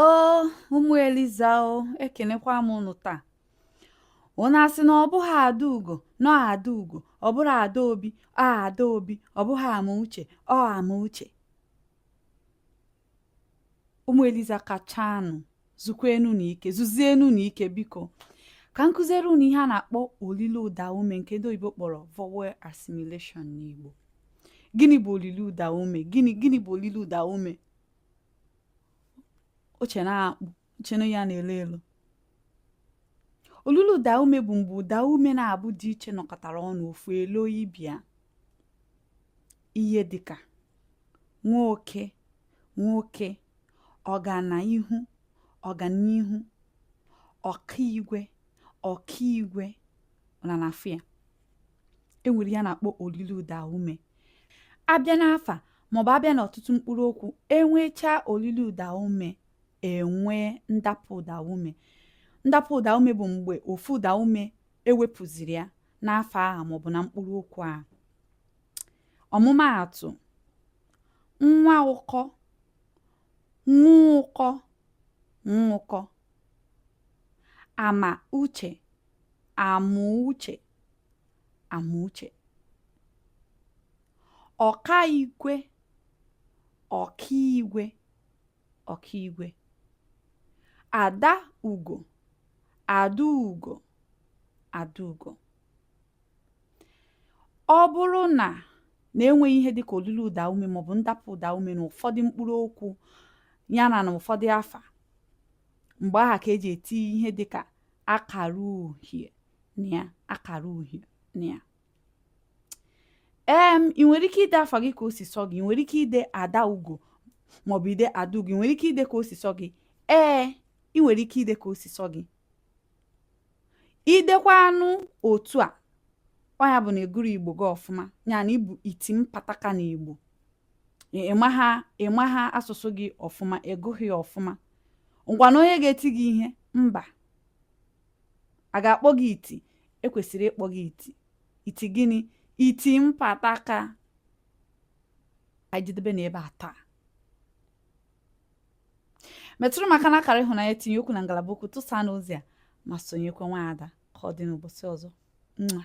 o ụmụ eliza o ekenekwa m ụnụ taa ụnụ asị na ọ bụghị ada ugo na ọ ada ugo ọ bụrọ ada obi ọ ada obi ọ bụghị ama uche ọ ama uche ụmụ eliza kachanụ zukwenụnụ ike zuzienụnụ ike biko ka m kuziere unu ihe a na-akpọ olilo ụda ume nke ndị oyibo kpọrọ vowel assimilation n'Igbo gịnị bụ olilo ụda ume gịnị gịnị bụ olilo ụda ume i che na ọ akpụ i che na ọ ihe a na-elo elo olilo ụda ume bụ mgbe ụda ume naabọ dị iche nọkọtara ọnụ ofu eloo ibe ya ihe dịka nwa oke nwoke ọga na ihu ọganihu ọka igwe ọkaigwe ụnụ ana-afụ ya e nwere ihe a na-akpọ olilo ụda ume a bịa n'afa maọbụ a bịa n'ọtụtụ mkpụrụ okwu e nwechaa olilo ụda ume e nwee ndapụ ụda ume ndapụ ụda ume bụ mgbe ofu ụda ume e wepụziri ya n'afa aha maọbụ na mkpụrụ okwu a ọmụmaatụ nwa ụkọ nwa ụkọ nwụkọ ama uche Amuuche Amuche ọka igwe ọkaigwe ọkaigwe ada ugo adaugo adaugo ọ bụrụ na na enweghị ihe dịka olilo ụda ume maọbụ ndapụ ụda ume na ụfọdụ mkpụrụ okwu yana na ụfọdụ afa mgbe aha ka e ji eti ihe dịka akara uhie na ya akara uhie na ya ee ị nwere ike ide afa gị ka o si sọ gị ị nwere ike ide ada ugo maọbụ ide adaugo ị nwere ike ide ka o si sọ gị ee ị nwere ike ide ka o si sọ gị i dekwanụ otu a ọ ya bụ na ị gụrọ igbo gị ọfụma ya na ị bụ iti mpataka na igbo ị maha ị maha asụsụ gị ọfụma ị gụghị ya ọfụma ngwanụ onye ga-eti gị ihe mba a ga-akpọ gị iti e kwesịrị ịkpọ gị iti iti gịnị iti mpataka anyị jedebe na ebe a taa metụrụ m aka na akara ịhụnanya tinye okwu na ngalaba okwu tụsanụ ozi a ma sonyekwa nwaada ka ọ dị n'ụbọchị ọzọ nwa